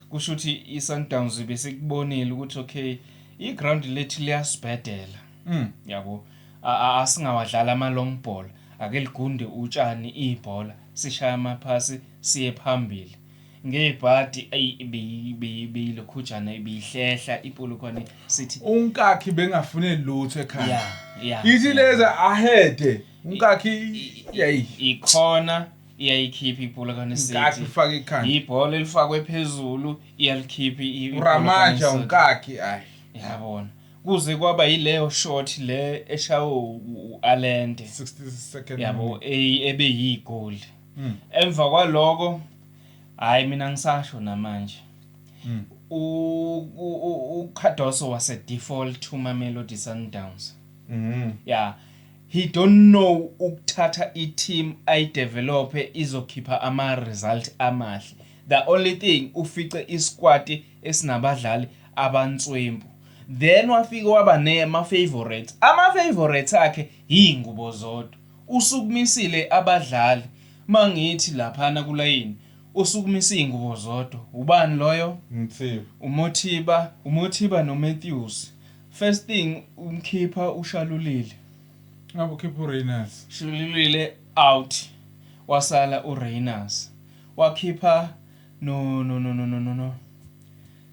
Kusho ukuthi iSundowns besikubonile ukuthi okay iground lethu liyasibhedela. Mm. Yabo. Asingawadlala ama long ball. Ake ligunde utshani ibhola sishaya amaphasi siye phambili. ngebhadi beyilokhujana ibihlehla ipolokwane sithi unkakhi bengafune lutho ekhaya ithi leza ahede unkakhi yayi ikhona iyayikhipha ibhola kaNkathu kaNeseti ufaka ikhanda ibhola elifakwe phezulu iyalikhipha i- ibhola uramaja kaNeseti. unkakhi ayi yabona kuze kwaba yileyo shot le eshawe u- u- u-alende 60 second yabo e- ebe yigoli Mm. emva kwaloko hayi mina ngisasho namanje Mm. U- u- u- ucardoso wase-default umamelodi sundowns Mhm. ya He don't know ukuthatha i team ayi develophe izokhipha ama result amahle. The only thing ufice i squad esinabadlali abanswempu. Then wafike waba ne ma favourites. Ama favourites akhe yingubo zodwa. Usukumisile abadlali mangithi laphana kulayini usukumise iyingubo zodwa. Ubani loyo? Mthiba. UMothiba, uMothiba no Matthews. First thing umkhipha uShalulile. Ngabe ukhipha uReyners. Shalulile out. Wasala uReyners. Wakhipha no no no no no no.